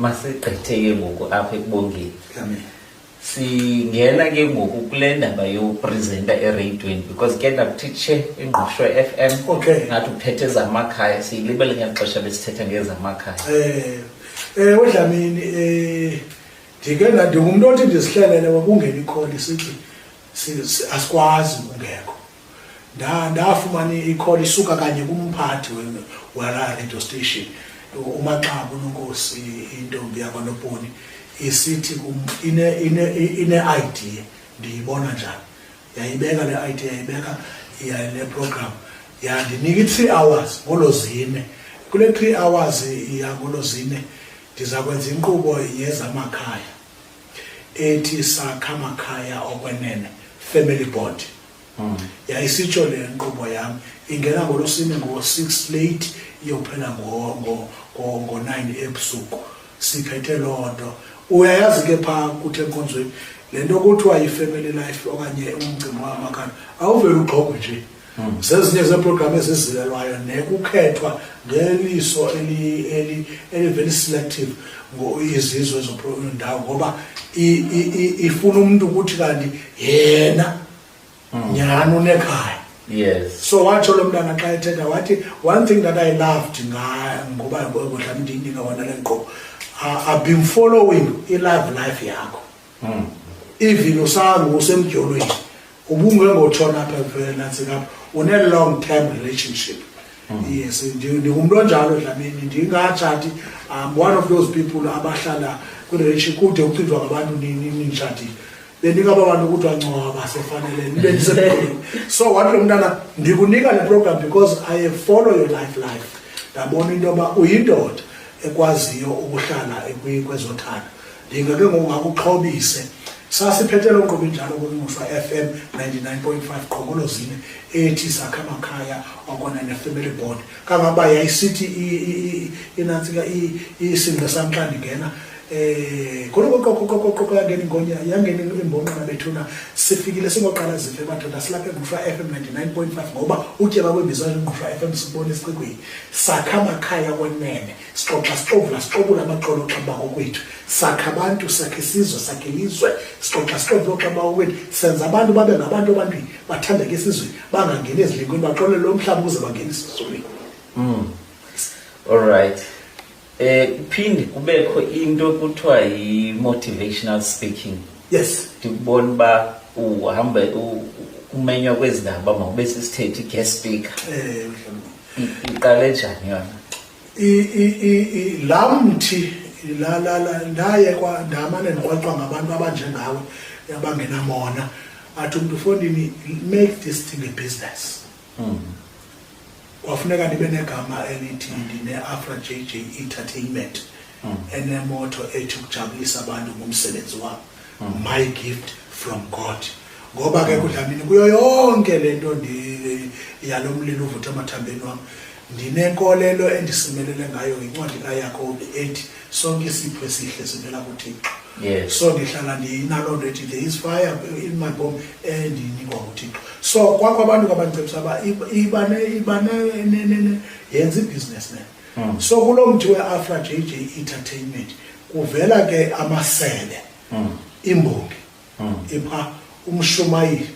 masigqitheke ngoku apha ekubongeni singena ke ngoku kule ndaba yopresenta ereyidweni because ke ndakutitshe ingqosho f m okay. ngathi uphethe ezamakhaya siyilibele ngeli xesha besithetha ngezamakhaya um eh, eh, odlamini um eh, ndike ndingumntu othi ndizihlelele wakungena ikholi sithi asikwazi ungekho ndafumana ikholi isuka kanye kumphathi walaa radio station umaxabu nonkosi intombi yakwanoponi isithi ine-idea ndiyibona njani yayibeka le idea yayibeka yale program yandinika i-three hours ngolo zine kule three hours yangolo zine ndiza kwenza inkqubo yezamakhaya ethi sakha amakhaya okwenene family board hmm. yayisitsho le nkqubo yam ingena ngolosine ngo-six late iyophela ngo-nine ebusuku siphethe loo nto uyayazi ke phaa kuthi enkonzweni le nto kuthiwa yi-family life okanye umcimbi wamakhaya awuvele ugxogo nje Hmm. zezinye zeeprogram ezizilelwayo nekukhethwa ngeliso elivela iselective izizwe ezodawo ngoba ifuna umntu ukuthi kanti yena hmm. nyhani unekhaya yes so watsho lo mntana xa ethetha wathi one thing that i loved ngoba kudla mndinika wona le nkqubo i've been following i-live life yakho hmm. even usangu usemdyolweni ubungengotshona apha vele nantsika apha une-long term relationship hmm. yes ndingumntu onjalo dlamini ndingatshati um one of those people abahlala kwirelationship kude kucinjwa ngabantu nintshatile bendingaba bantu ukuthi wancwaba sefanele nibe ndisemdolweni so wathi lo mntana ndikunika le program because i follow your life life ndabona into yoba uyindoda ekwaziyo ukuhlala kwezothando ndinga ke ngoku ngakuxhobise sasiphethe loo nkqubo injalo kunofa f m 99.5 qhokolozine ethi sakhe amakhaya okona ne-family board kangangoba yayisithi inantsika isingqe sam xa ndingena eh khona koqoqoqoqoqo yangena ingonya yangena imbonqana bethuna sifikile singoqala zife madoda silapha engqushwa FM 99.5 ngoba utyeba kwembizo engqushwa FM sibone esiqikweni sakha amakhaya kwenene sixoxa sixovula sixobula amaqola oxamba kokwethu sakha abantu sakhe isizwe sakhe ilizwe sixoxa sixovula oxamba kokwethu senza abantu babe ngabantu abantwini bathandeke esizweni bangangeni ezilingweni baxolele lo mhlaba ukuze bangene esizweni mm. all right eh kuphinde kubekho into ekuthiwa yi-motivational speaking yes ndikubona uba uhambe umenywa kwezi ndaba mawube sisithethe i-guest speaker um iqale njani yona laa mthi ndaye ndamane ndiqwaqwa ngabantu abanjengawe abangenamona athi umntu fondini make this thing a business hmm. kwafuneka ndibe negama elithi ndine-afra j j entertainment mm. enemoto ethi ukujabulisa abantu ngomsebenzi wabo mm. my gift from god ngoba ke kudlamini kuyo yonke le nto yalo mlilo uvutha emathambeni wam ndinenkolelo endisimelele ngayo yincwadi kayakobi ethi sonke isipho esihle sivela kuthixo so ndihlala ndiyinaloo nto ethi there is fire in my bom endiyinikwa nguthixo so kwakho abantu kabandicebisa uba iba yenza ibhizinesi ne mm. so kulo mthi we-afra j j entertainment kuvela ke amasebe mm. imbongi mm. ipha umshumayeli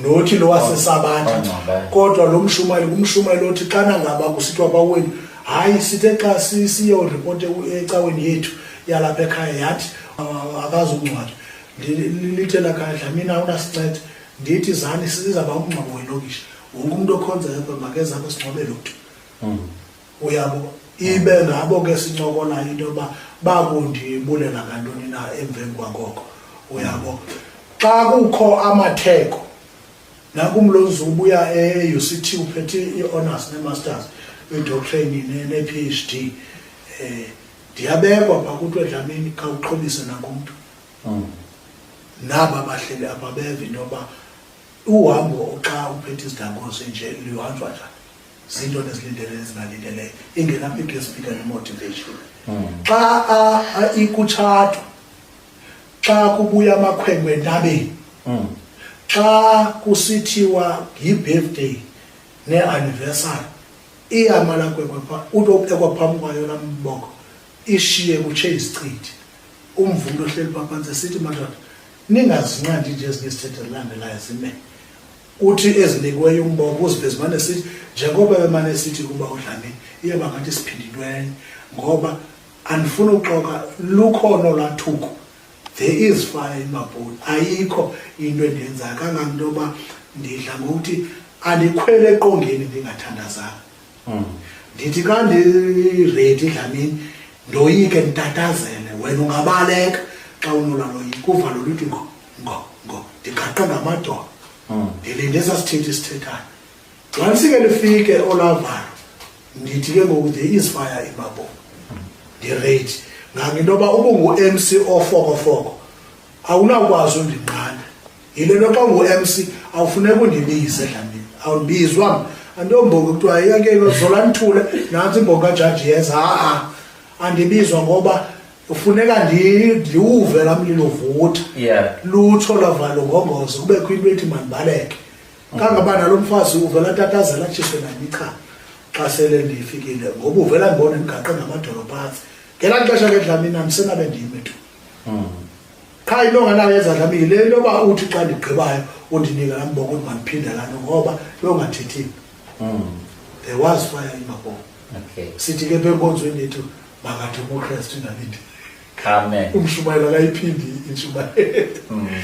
nothi lo wasesabatha kodwa lo mshumayeli umshumayeli othi xana ngaba kusithiwa baweni hayi sithe xa siyoripote ecaweni yethu yalapha ekhaya yathi akazungcwatywa lithe lakhaya dlamina unasinceda ndithi zani sizaba umngcwabo welokishi wonke umuntu okhonzayo apha makeze apho sinqobele uthi hmm. uyabo ibe ngabo ke sincokola into yoba bakundibulela ngantoni na emveni kwangoko uyabo xa kukho amatheko nakumlonzi ubuya e-uct uphethe i-honors ne-masters idoctrine ne-ph d um ndiyabekwa pha kuthi wedlamini khawuxhobise nangumntu hmm. naba bahleli apha beve into yoba uhambo xa uphethe izigango zinje luhanjwa njani zinto nezilindele ezingalindeleyo ingenaphi into esifika nemotivation hmm. xa ikutshatwa xa kubuya amakhwenkwe entabeni hmm. xa kusithiwa yi-birthday ne-anniversary iyama lakwekwe pha uthi ophekwa phambi kwayo laa mboko ishiye kutshe izichithi umvundo ohleli phaphantsi esithi madoda ningazinqandi nje ezinye isithethe zilandelayo zime uthi ezinikiweyo umboko uziveze mane sithi njengoba bemane sithi kuba udlamini iyoba ngathi siphindilwenye ngoba andifuna uxoka lukhona olwathuko there is fire in mabholi ayikho into endiyenzayo kanganto yoba ndidla ngokuthi andikhwele eqongeni ndingathandazanga Mm. ndithi xa ndiredi dlamini ndoyike nditatazele wena ungabaleka xa unolaloyiki kuvalo luthi ngo ngo ngo ndiqaqe ngamadolo mm. ndilinde sasithethi sithethayo xa lisike lifike olavalo ndithi ke ngoku there is fire in my bone ndiredi ngangento yoba ubungu-mc ofokofoko awunakwazi undinqanda yile nto xa ngu-mc awufuneka undibize dlamini awundibizwa mna antombongo kuthiwa yake zola nithule nantsi imbongo kajaji yeza ha-a andibizwa ngoba ufuneka ndiwuve la mlilo vutha lutsho lavalo ngongozo kubekho into ethi mandibaleke kangoba nalo mfazi uvela tatazela atshiswe nandichama xa sele ndifikile ngoba uvela ndibona ndibhaqe ngamadolo phantsi ngelaa xesha ke dlamina ndisenabe ndiyime tu hmm. qha into nganayo ezadlamile le nto yoba uthi xa ndigqibayo undinika laa mboko uthi mandiphinda laa nto ngoba longathethile hmm. there was fire in my bone sithi ke phe enkonzweni yethu makademokristu ndalinde umshumayelo akayiphindi intshumayelo hmm.